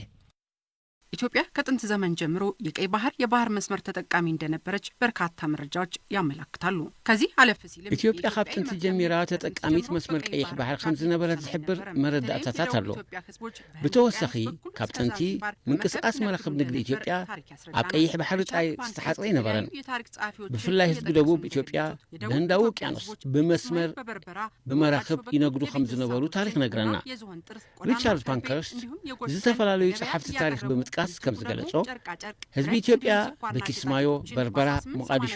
ኢትዮጵያ ከጥንት ዘመን ጀምሮ የቀይ ባህር የባህር መስመር ተጠቃሚ እንደነበረች በርካታ መረጃዎች ያመላክታሉ። ከዚህ አለፍ ሲልም ኢትዮጵያ ካብ ጥንቲ ጀሚራ ተጠቃሚት መስመር ቀይሕ ባህር ከም ዝነበረት ዝሕብር መረዳእታታት ኣሎ። ብተወሳኺ ካብ ጥንቲ ምንቅስቃስ መራክብ ንግዲ ኢትዮጵያ ኣብ ቀይሕ ባሕሪ ጥራይ ዝተሓጽረ ኣይነበረን። ብፍላይ ህዝቢ ደቡብ ኢትዮጵያ ብህንዳዊ ውቅያኖስ ብመስመር ብመራኽብ ይነግዱ ከም ዝነበሩ ታሪኽ ነግረና። ሪቻርድ ፓንከርስት ዝተፈላለዩ ጸሓፍቲ ታሪኽ ብምጥቃስ ከም ዝገለጾ ህዝቢ ኢትዮጵያ በኪስማዮ፣ በርበራ፣ ሞቃዲሾ፣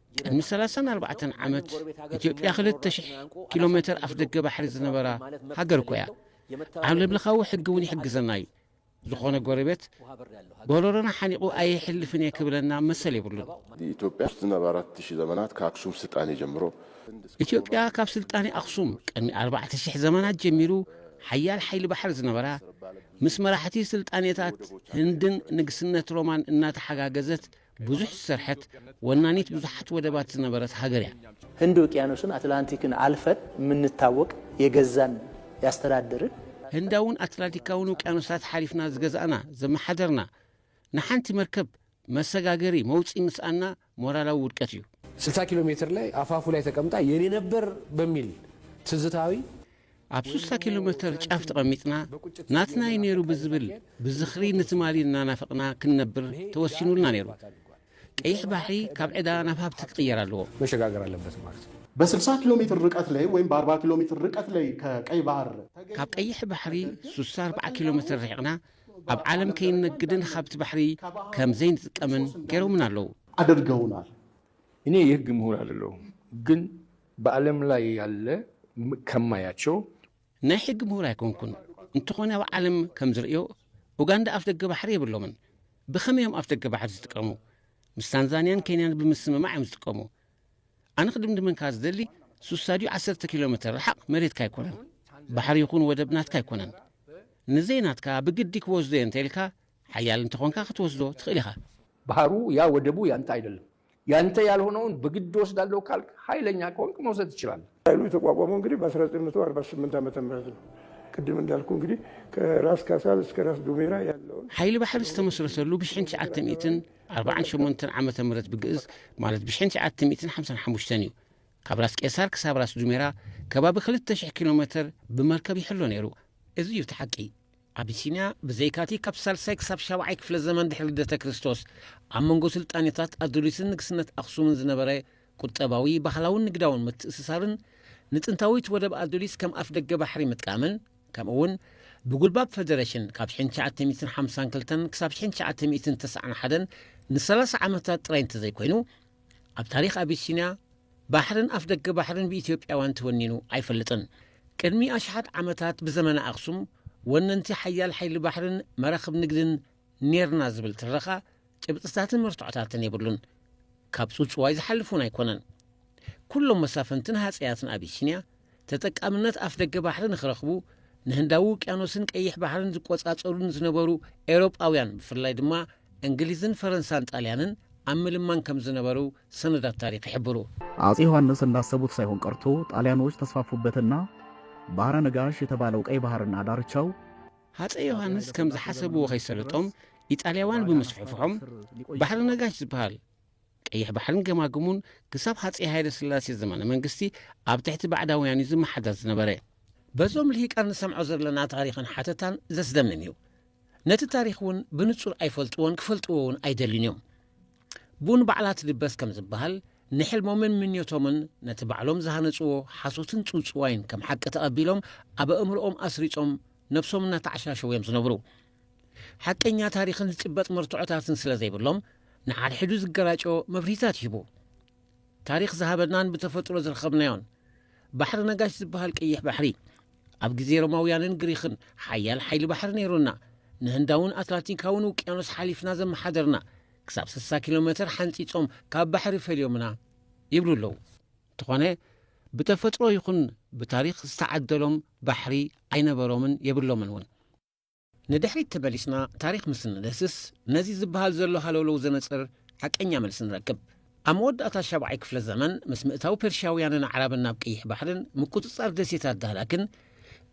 ቅድሚ ሰላሳን ኣርባዕተን ዓመት ኢትዮጵያ ክልተ ሽሕ ኪሎ ሜተር ኣፍ ደገ ባሕሪ ዝነበራ ሃገር እኮ እያ። ዓለምለኻዊ ሕጊ እውን ይሕግዘና እዩ። ዝኾነ ጎረቤት ጎረሮና ሓኒቑ ኣይሕልፍን እየ ክብለና መሰል የብሉን። ኢትዮጵያ ውስጥ ናብ ኣራት ሺህ ዘመናት ከአክሱም ስልጣኔ ጀምሮ ኢትዮጵያ ካብ ስልጣኔ ኣክሱም ቅድሚ ኣርባዕተ ሽሕ ዘመናት ጀሚሩ ሓያል ሓይሊ ባሕሪ ዝነበራ ምስ መራሕቲ ስልጣኔታት ህንድን ንግስነት ሮማን እናተሓጋገዘት ብዙሕ ዝሰርሐት፣ ወናኒት ብዙሓት ወደባት ዝነበረት ሃገር'ያ። ህንዲ ውቅያኖስን ኣትላንቲክን ኣልፈን ምንታወቅ የገዛን ያስተዳድርን። ህንዳውን ኣትላንቲካውን ውቅያኖሳት ሓሊፍና ዝገዛእና፣ ዘመሓደርና፣ ንሓንቲ መርከብ መሰጋገሪ፣ መውጽኢ፣ ምስኣንና ሞራላዊ ውድቀት'ዩ። ስልሳ ኪሎ ሜትር ላይ አፋፉ ላይ ተቀምጣ የኔ ነበር በሚል ትዝታዊ። ኣብ ሱሳ ኪሎ መተር ጫፍ ተቐሚጥና ናትና እዩ ነይሩ ብዝብል ብዝኽሪ ንትማሊ እናናፈቕና ክንነብር ተወሲኑልና ነይሩ። ቀይሕ ባሕሪ ካብ ዕዳ ናብ ሃብቲ ክቕየር ኣለዎ። መሸጋገር ኣለበት ማለት ነው። በስልሳ ኪሎ ሜትር ርቀት ላይ ወይም በአርባ ኪሎ ሜትር ርቀት ላይ ከቀይ ባህር ካብ ቀይሕ ባሕሪ ሱሳ ኣርብዓ ኪሎ ሜትር ርሒቕና ኣብ ዓለም ከይንነግድን ሃብቲ ባሕሪ ከም ዘይንጥቀምን ገይሮምና ኣለዉ። ኣድርገውናል። እኔ የህግ ምሁር አደለሁም ግን በአለም ላይ ያለ ከማያቸው ናይ ሕጊ ምሁር ኣይኮንኩን እንተኾነ ኣብ ዓለም ከም ዝርእዮ ኡጋንዳ ኣፍደገ ባሕሪ የብሎምን ብኸመይ እዮም ኣፍደገ ባሕሪ ዝጥቀሙ ምስ ታንዛንያን ኬንያን ብምስምማዕ እዮም ዝጥቀሙ ኣነ ክድምድመንካ ዝደሊ ሱሳድዩ ዓሰርተ ኪሎ ሜትር ርሓቕ መሬትካ ኣይኮነን ባሕሪ ይኹን ወደብ ናትካ ኣይኮነን ንዘይ ናትካ ብግዲ ክወስዶ እየ እንተ ኢልካ ሓያል እንተኾንካ ክትወስዶ ትኽእል ኢኻ። ባህሩ ያ ወደቡ ያንተ ኣይደለም ያንተ ያልሆነውን በግድ እወስዳለሁ ካልክ ሀይለኛ ከሆንክ መውሰድ ትችላለህ። ኃይሉ የተቋቋመው እንግዲህ በ1948 ዓመተ ምህረት ነው። ቅድም እንዳልኩህ እንግዲህ ከራስ ካሳል እስከ ራስ ዱሜራ ያለውን። ሓይሊ ባሕሪ ዝተመስረተሉ ብሽሕን ትሽዓተ ሚእትን ኣርባዓን ሸሞንተን ዓመተ ምህረት ብግእዝ ማለት ብሽሕን ትሽዓተ ሚእትን ሓምሳን ሓሙሽተን እዩ። ካብ ራስ ቄሳር ክሳብ ራስ ዱሜራ ከባቢ ክልተ ሽሕ ኪሎ ሜተር ብመርከብ ይሕሎ ነይሩ። እዚ እዩ እቲ ሓቂ። ኣቢሲንያ ብዘይካቲ ካብ ሳልሳይ ክሳብ ሻብዓይ ክፍለ ዘመን ድሕሪ ልደተ ክርስቶስ ኣብ መንጎ ስልጣኔታት ኣዱሊስን ንግስነት ኣኽሱምን ዝነበረ ቁጠባዊ፣ ባህላውን ንግዳውን ምትእስሳርን ንጥንታዊት ወደብ ኣዱሊስ ከም ኣፍደገ ባሕሪ ምጥቃምን ከምኡ'ውን ብጉልባብ ፈደረሽን ካብ ሽሕን ትሽዓተ ሚእትን ሓምሳን ክልተን ክሳብ ሽሕን ትሽዓተ ሚእትን ተስዓን ሓደን ንሰላሳ ዓመታት ጥራይ እንተዘይኮይኑ ኣብ ታሪኽ ኣቢሲንያ ባሕርን ኣፍደገ ባሕርን ብኢትዮጵያውያን ተወኒኑ ኣይፈልጥን። ቅድሚ ኣሽሓት ዓመታት ብዘመነ ኣኽሱም ወነንቲ ሓያል ሓይሊ ባሕርን መራኽብ ንግድን ኔርና ዝብል ትረኻ ጭብጥታትን መርትዖታትን የብሉን። ካብ ጽውጽዋይ ዝሓልፍ እውን ኣይኮነን። ኩሎም መሳፍንትን ሃጸያትን ኣቢሲንያ ተጠቃምነት ኣፍደገ ባሕሪ ንክረኽቡ ንህንዳዊ ውቅያኖስን ቀይሕ ባሕርን ዝቆጻጸሩን ዝነበሩ ኤውሮጳውያን ብፍላይ ድማ እንግሊዝን ፈረንሳን ጣልያንን ኣብ ምልማን ከም ዝነበሩ ሰነዳት ታሪኽ ይሕብሩ። አፄ ዮሐንስ እንዳሰቡት ሳይሆን ቀርቶ ጣልያኖች ተስፋፉበትና ባህረ ነጋሽ የተባለው ቀይ ባህርና ዳርቻው ሃፀይ ዮሃንስ ከም ዝሓሰብዎ ከይሰለጦም ኢጣልያውያን ብምስፍሕፍሖም ባሕሪ ነጋሽ ዝበሃል ቀይሕ ባሕርን ገማግሙን ክሳብ ሃፀይ ሃይለስላሴ ዘመነ መንግስቲ ኣብ ትሕቲ ባዕዳውያን እዩ ዝመሓደር ዝነበረ። በዞም ልሂቃን ንሰምዖ ዘለና ታሪኽን ሓተታን ዘስደምም እዩ። ነቲ ታሪኽ እውን ብንፁር ኣይፈልጥዎን ክፈልጥዎ እውን ኣይደልዩን እዮም። ብኡ ንባዕላ ትድበስ ከም ዝበሃል ንሕልሞምን ምኞቶምን ነቲ ባዕሎም ዝሃነፅዎ ሓሶትን ፅውፅዋይን ከም ሓቂ ተቐቢሎም ኣብ ኣእምሮኦም ኣስሪፆም ነብሶም እናተዓሻሸዉ እዮም ዝነብሩ። ሓቀኛ ታሪኽን ዝጭበጥ መርትዖታትን ስለ ዘይብሎም ንሓድሕዱ ዝገራጮ መብርሂታት ይህቡ ታሪኽ ዝሃበናን ብተፈጥሮ ዝረኸብናዮን ባሕሪ ነጋሽ ዝበሃል ቀይሕ ባሕሪ ኣብ ግዜ ሮማውያንን ግሪኽን ሓያል ሓይሊ ባሕሪ ነይሩና ንህንዳውን ኣትላንቲካውን ውቅያኖስ ሓሊፍና ዘመሓደርና ክሳብ 60 ኪሎ ሜተር ሓንፂፆም ካብ ባሕሪ ፈልዮምና ይብሉ ኣለዉ እንተኾነ ብተፈጥሮ ይኹን ብታሪኽ ዝተዓደሎም ባሕሪ ኣይነበሮምን የብሎምን እውን ንድሕሪት ተመሊስና ታሪኽ ምስ እንድህስስ ነዚ ዝበሃል ዘሎ ሃለውለው ዘነጽር ሓቀኛ መልሲ ንረክብ። ኣብ መወዳእታ ሻብዓይ ክፍለ ዘመን ምስ ምእታው ፐርሽያውያንን ኣዕራብን ናብ ቀይሕ ባሕርን ምቁጽጻር ደሴታት ዳህላክን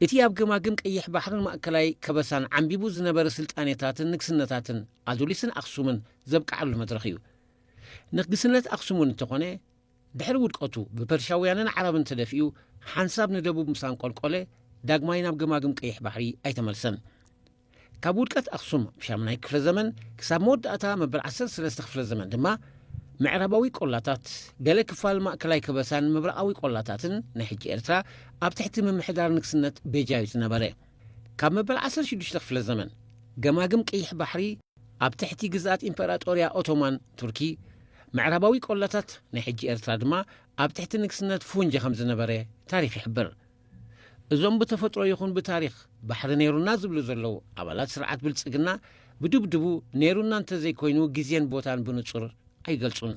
እቲ ኣብ ገማግም ቀይሕ ባሕርን ማእከላይ ከበሳን ዓምቢቡ ዝነበረ ስልጣኔታትን ንግስነታትን ኣዱሊስን ኣኽሱምን ዘብቅዓሉ መድረኽ እዩ። ንግስነት ኣኽሱም እውን እንተኾነ ድሕሪ ውድቀቱ ብፐርሻውያንን ዓረብን ተደፊኡ ሓንሳብ ንደቡብ ምስ ኣንቆልቆለ ዳግማይ ናብ ገማግም ቀይሕ ባሕሪ ኣይተመልሰን። ካብ ውድቀት ኣኽሱም ኣብ ሻምናይ ክፍለ ዘመን ክሳብ መወዳእታ መበል ዓሰርተ ሰለስተ ክፍለ ዘመን ድማ ምዕራባዊ ቆላታት፣ ገለ ክፋል ማእከላይ ከበሳን ምብራቓዊ ቆላታትን ናይ ሕጂ ኤርትራ ኣብ ትሕቲ ምምሕዳር ንግስነት ቤጃ እዩ ዝነበረ። ካብ መበል ዓሰርተ ሽዱሽተ ክፍለ ዘመን፣ ገማግም ቀይሕ ባሕሪ ኣብ ትሕቲ ግዝኣት ኢምፐራጦርያ ኦቶማን ቱርኪ፣ ምዕራባዊ ቆላታት ናይ ሕጂ ኤርትራ ድማ ኣብ ትሕቲ ንግስነት ፉንጂ ከም ዝነበረ ታሪኽ ይሕብር። እዞም ብተፈጥሮ ይኹን ብታሪኽ ባሕሪ ነይሩና ዝብሉ ዘለዉ ኣባላት ስርዓት ብልጽግና ብድብድቡ ነይሩና እንተዘይኮይኑ ግዜን ቦታን ብንጹር ኣይገልጹን።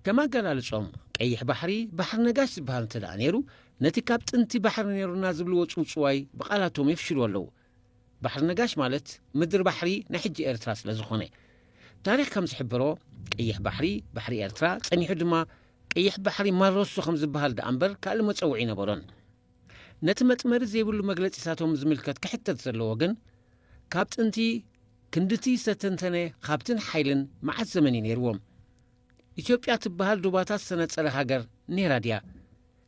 ከም ኣገላልጾም፣ ቀይሕ ባሕሪ፣ ባሕሪ ነጋሽ ዝበሃል እንተደኣ ነይሩ፣ ነቲ ካብ ጥንቲ ባሕሪ ነይሩና ዝብልዎ ጽውጽዋይ ብቓላቶም የፍሽልዎ ኣለዉ። ባሕሪ ነጋሽ ማለት ምድሪ ባሕሪ ናይ ሕጂ ኤርትራ ስለ ዝኾነ። ታሪኽ ከም ዝሕብሮ፣ ቀይሕ ባሕሪ፣ ባሕሪ ኤርትራ፣ ጸኒሑ ድማ ቀይሕ ባሕሪ ማረሶ ከም ዝበሃል ደኣ እምበር ካልእ መጸውዒ ኣይነበሮን። ነቲ መጥመሪ ዘይብሉ መግለጺታቶም ዝምልከት ክሕተት ዘለዎ ግን፣ ካብ ጥንቲ፣ ክንድቲ ዝተተንተነ ሃብትን ሓይልን መዓስ ዘመን እዩ ነይርዎም? ኢትዮጵያ ትበሃል ዶባታት ዝተነጸለ ሃገር ነይራ ድያ?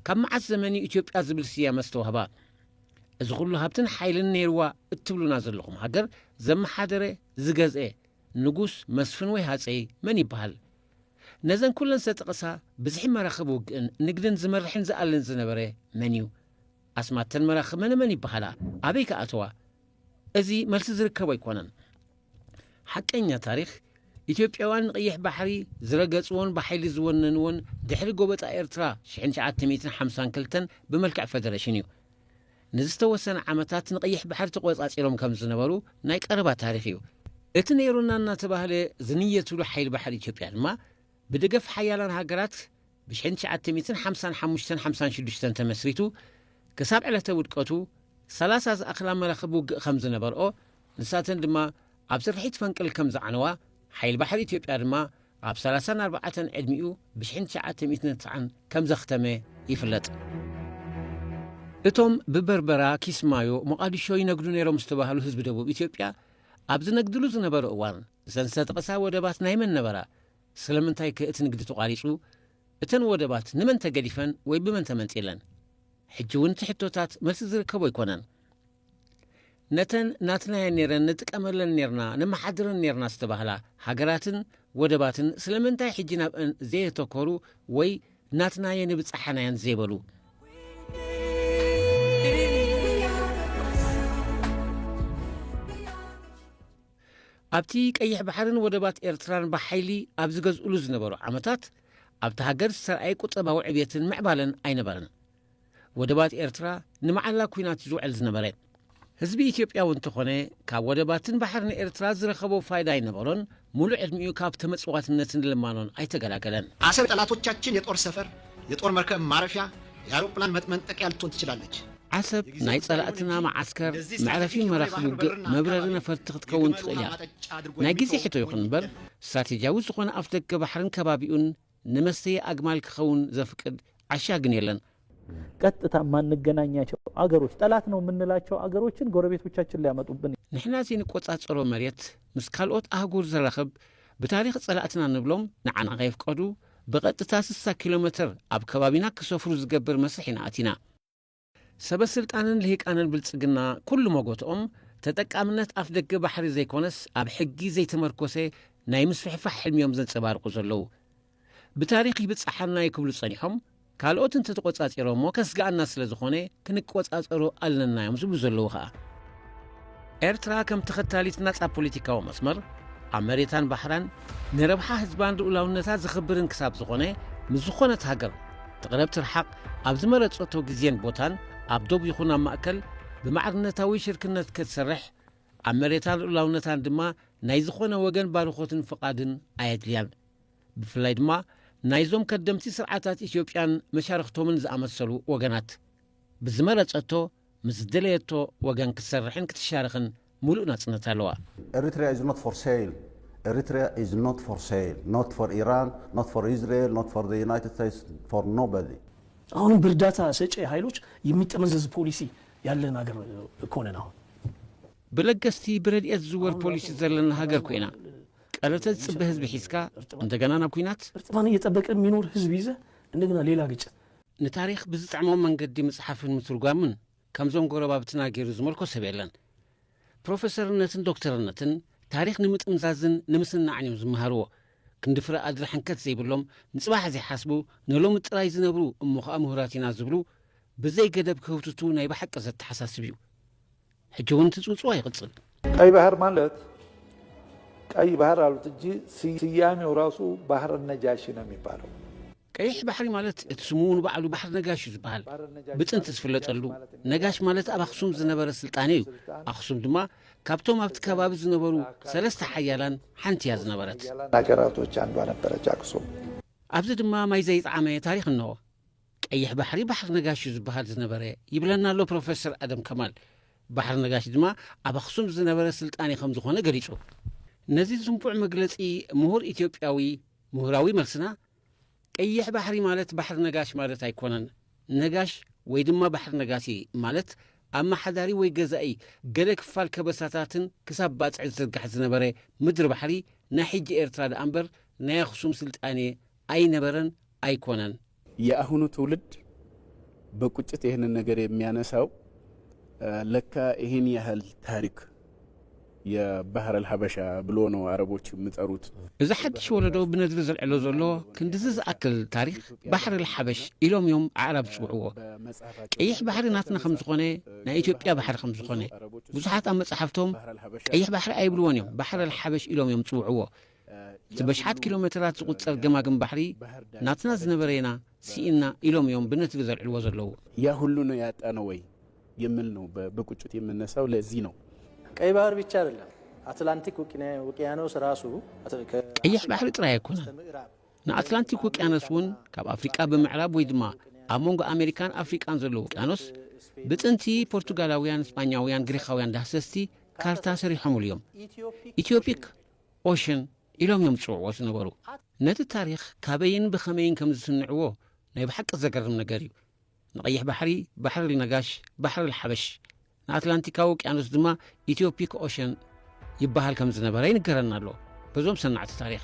ካብ መዓስ ዘመን እዩ ኢትዮጵያ ዝብል ስያመ ዝተዋህባ? እዚ ኩሉ ሃብትን ሓይልን ነይርዋ እትብሉና ዘለኹም ሃገር ዘመሓደረ፣ ዝገዝኤ፣ ንጉስ፣ መስፍን ወይ ሃጸይ መን ይበሃል? ነዘን ኩለን ዝተጠቐሳ ብዝሒ መራኽብ ውግእን ንግድን ዝመርሕን ዝኣልን ዝነበረ መን እዩ? ኣስማት እተን መራኽብ መነመን ይበሃላ? ኣበይ ከ ኣተዋ? እዚ መልሲ ዝርከቦ ኣይኮነን። ሓቀኛ ታሪኽ፣ ኢትዮጵያውያን ንቐይሕ ባሕሪ ዝረገጽዎን ብሓይሊ ዝወነንዎን ድሕሪ ጎበጣ ኤርትራ ሽሕን ትሽዓተ ሚእትን ሓምሳን ክልተን ብመልክዕ ፈደረሽን እዩ። ንዝተወሰነ ዓመታት ንቐይሕ ባሕሪ ተቖጻጺሮም ከም ዝነበሩ ናይ ቀረባ ታሪኽ እዩ። እቲ ነይሩና እናተባህለ ዝንየትሉ ሓይሊ ባሕሪ ኢትዮጵያ ድማ ብደገፍ ሓያላን ሃገራት፣ ብሽሕን ትሽዓተ ሚእትን ሓምሳን ሓሙሽተን ሓምሳን ሽዱሽተን ተመስሪቱ ክሳብ ዕለተ ውድቀቱ ሰላሳ ዝኣኽላ መራኽብ ውግእ ከም ዝነበርኦ፣ ንሳተን ድማ ኣብ ስርሒት ፈንቅል ከም ዝዓነዋ፣ ሓይሊ ባሕሪ ኢትዮጵያ ድማ ኣብ ሰላሳን ኣርባዓተን ዕድሚኡ ብሽሕን ትሽዓተ ሚእትን ትስዓን ከም ዘኽተመ ይፍለጥ። እቶም ብበርበራ፣ ኪስማዮ፣ ሞቓድሾ ይነግዱ ነይሮም ዝተባህሉ ህዝቢ ደቡብ ኢትዮጵያ ኣብ ዝነግድሉ ዝነበሩ እዋን፣ እዘን ዝተጠቕሳ ወደባት ናይ መን ነበራ? ስለምንታይከ እቲ ንግዲ ተቋሪጹ? እተን ወደባት ንመን ተገዲፈን ወይ ብመን ተመንጢለን? ሕጂውን እቲ ሕቶታት መልሲ ዝርከቦ ኣይኮነን። ነተን ናትናየን ነይረን ንጥቀመለን ነይርና ነመሓድረን ነይርና ዝተባህላ ሃገራትን ወደባትን ስለምንታይ ሕጂ ናብአን ዘየተኮሩ ወይ ናትናየን ይብጻሓናየን ዘይበሉ? ኣብቲ ቀይሕ ባሕርን ወደባት ኤርትራን ብሓይሊ ኣብ ዝገዝእሉ ዝነበሩ ዓመታት፣ ኣብታ ሃገር ዝተርኣየ ቁጠባዊ ዕብየትን ምዕባለን ኣይነበረን። ወደባት ኤርትራ ንመዓላ ኲናት ዝውዕል ዝነበረ። ህዝቢ ኢትዮጵያ'ውን እንተኾነ ካብ ወደባትን ባሕርን ኤርትራ ዝረኸቦ ፋይዳ ኣይነበሮን፣ ሙሉእ ዕድሚኡ ካብ ተመጽዋትነትን ልማኖን ኣይተገላገለን። ኣሰብ የጠላቶቻችን የጦር ሰፈር፣ የጦር መርከብ ማረፊያ፣ የኣሮፕላን መጥመንጠቂያ ልትሆን ትችላለች። ዓሰብ ናይ ጸላእትና መዓስከር መዕረፊ መራኽብ ውግእ መብረሪ ነፈርቲ ክትከውን ትኽእል እያ። ናይ ግዜ ሕቶ ይኹን እምበር ስትራቴጂያዊ ዝኾነ ኣፍደገ ባሕርን ከባቢኡን ንመስተዪ ኣግማል ክኸውን ዘፍቅድ ዓሻ ግን የለን። ቀጥታ ማንገናኛቸው አገሮች ጠላት ነው የምንላቸው አገሮችን ጎረቤቶቻችን ሊያመጡብን ንሕና ዘይንቆጻጸሮ መሬት ምስ ካልኦት ኣህጉር ዘራኽብ ብታሪኽ ጸላእትና ንብሎም ንዓና ከይፍቀዱ ብቐጥታ 60 ኪሎ ሜትር ኣብ ከባቢና ክሰፍሩ ዝገብር መስርሕ ኢና ኣቲና ሰበስልጣንን ልሂቃንን ብልጽግና ኩሉ መጎትኦም ተጠቃምነት ኣፍደገ ባሕሪ ዘይኮነስ ኣብ ሕጊ ዘይተመርኮሰ ናይ ምስፍሕፋሕ ሕልሚዮም ዘንጸባርቁ ዘለዉ። ብታሪኽ ይብጸሓናዩ ክብሉ ጸኒሖም ካልኦት እንተተቆጻጺሮሞ ከስግኣና ስለዝኾነ ክንቆጻጸሮ ኣለናዮም ዝብሉ ዘለዉ ከኣ። ኤርትራ ከም ተኸታሊት ናጻ ፖሊቲካዊ መስመር፣ ኣብ መሬታን ባሕራን ንረብሓ ህዝባን ልኡላውነታ ዘኽብርን ክሳብ ዝኾነ፣ ምስ ዝኾነት ሃገር፣ ትቕረብ ትርሓቕ፣ ኣብ ዝመረጸቶ ግዜን ቦታን፣ ኣብ ዶብ ይኹን ኣብ ማእከል፣ ብማዕርነታዊ ሽርክነት ከትሰርሕ፣ ኣብ መሬታን ልኡላውነታን ድማ ናይ ዝኾነ ወገን ባርኾትን ፍቓድን ኣየድልያን። ብፍላይ ድማ ናይዞም ከደምቲ ስርዓታት ኢትዮጵያን መሻርኽቶምን ዝኣመሰሉ ወገናት፣ ብዝመረጸቶ፣ ምስ ዝደለየቶ ወገን ክትሰርሕን ክትሻረኽን ሙሉእ ናጽነት ኣለዋ። Eritrea is not for sale Eritrea is not for sale Not for Iran Not for Israel Not for the United States For nobody። አሁንም በእርዳታ ሰጪ ሀይሎች የሚጠመዘዝ ፖሊሲ ያለን ሀገር እኮ ነን አሁን። ብለገስቲ ብረድኤት ዝዝወር ፖሊሲ ዘለና ሀገር ኮይና ቀረተ ዝፅበ ህዝቢ ሒዝካ እንደገና ናብ ኩናት? እርጥማን እየጠበቀ የሚኖር ህዝብ ይዘህ እንደገና ሌላ ግጭት? ንታሪኽ ብዝጥዕሞም መንገዲ ምጽሓፍን ምትርጓምን ከምዞም ጎረባብትና ገይሩ ዝመልኮ ሰብ የለን። ፕሮፈሰርነትን ዶክተርነትን ታሪኽ ንምጥምዛዝን ንምስናዕን እዮም ዝመሃርዎ። ክንዲ ፍረ ኣድሪ ሕንከት ዘይብሎም ንጽባሕ ዘይሓስቡ ንሎሚ ጥራይ ዝነብሩ እሞ ኸኣ ምሁራት ኢና ዝብሉ ብዘይ ገደብ ክህውትቱ ናይ ብሓቂ ዘተሓሳስብ እዩ። ሕጂ እውን እቲ ጽውጽዋይ ይቕጽል። ቀይ ባህር ማለት ቀይ ባህር አሉት እንጂ ስያሜው ራሱ ባህረ ነጃሺ ነው የሚባለው። ቀይሕ ባሕሪ ማለት እቲ ስሙ ንባዕሉ ባሕሪ ነጋሽ እዩ ዝበሃል ብጥንቲ ዝፍለጠሉ ነጋሽ ማለት ኣብ ኣኽሱም ዝነበረ ስልጣኔ እዩ ኣኽሱም ድማ ካብቶም ኣብቲ ከባቢ ዝነበሩ ሰለስተ ሓያላን ሓንቲ እያ ዝነበረት ናገራቶች ኣንዷ ነበረች ኣክሱም ኣብዚ ድማ ማይ ዘይጠዓመ ታሪክ እነሆ ቀይሕ ባሕሪ ባሕሪ ነጋሽ እዩ ዝበሃል ዝነበረ ይብለና ኣሎ ፕሮፌሰር ኣደም ከማል ባሕሪ ነጋሽ ድማ ኣብ ኣኽሱም ዝነበረ ስልጣኔ ከም ዝኾነ ገሊጹ ነዚ ዝንቡዕ መግለጺ ምሁር ኢትዮጵያዊ ምሁራዊ መልስና ቀይሕ ባሕሪ ማለት ባሕሪ ነጋሽ ማለት ኣይኮነን። ነጋሽ ወይ ድማ ባሕሪ ነጋሲ ማለት ኣመሓዳሪ ወይ ገዛኢ ገለ ክፋል ከበሳታትን ክሳብ ባጽዕ ዝዝርጋሕ ዝነበረ ምድሪ ባሕሪ ናይ ሕጂ ኤርትራ ደኣ እምበር ናይ ኣኽሱም ስልጣኔ ኣይነበረን ኣይኮነን። የኣሁኑ ትውልድ በቁጭት ይህንን ነገር የሚያነሳው ለካ ይህን ያህል ታሪክ። የባህር ኣልሃበሻ ብሎ ነው ኣረቦች ምጸሩት። እዚ ሓድሽ ወለዶ ብነድሪ ዘልዕሎ ዘሎ ክንድዚ ዝኣክል ታሪኽ ባሕሪ ኣልሓበሽ ኢሎም እዮም ኣዕራብ ዝጽውዕዎ። ቀይሕ ባሕሪ ናትና ከም ዝኾነ ናይ ኢትዮጵያ ባሕሪ ከም ዝኾነ ብዙሓት ኣብ መጻሕፍቶም ቀይሕ ባሕሪ ኣይብልዎን እዮም ባሕሪ ኣልሓበሽ ኢሎም እዮም ዝጽውዕዎ። እቲ በሽሓት ኪሎ መተራት ዝቑጸር ገማግም ባሕሪ ናትና ዝነበረ ኢና ስኢንና ኢሎም እዮም ብነትሪ ዘልዕልዎ ዘለዉ። ያ ሁሉ ነው ያጣነው ወይ የሚል ነው በቁጭት የምነሳው ለዚህ ነው። ቀይ ባህር ብቻ አይደለም አትላንቲክ ውቅያኖስ ራሱ ቀይሕ ባሕሪ ጥራይ ኣይኮነን ንኣትላንቲክ ውቅያኖስ እውን ካብ ኣፍሪቃ ብምዕራብ ወይ ድማ ኣብ መንጎ ኣሜሪካን ኣፍሪቃን ዘሎ ውቅያኖስ ብጥንቲ ፖርቱጋላውያን እስጳኛውያን ግሪኻውያን ዳህሰስቲ ካርታ ሰሪሖምሉ እዮም ኢትዮፒክ ኦሽን ኢሎም እዮም ዝጽውዕዎ ዝነበሩ። ነቲ ታሪኽ ካበይን ብኸመይን ከም ዝስንዕዎ ናይ ብሓቂ ዘገርም ነገር እዩ። ንቀይሕ ባሕሪ ባሕርል ነጋሽ፣ ባሕርል ሓበሽ፣ ንኣትላንቲካዊ ውቅያኖስ ድማ ኢትዮፒክ ኦሽን ይበሃል ከም ዝነበረ ይንገረና ኣሎ በዞም ሰናዕቲ ታሪኽ።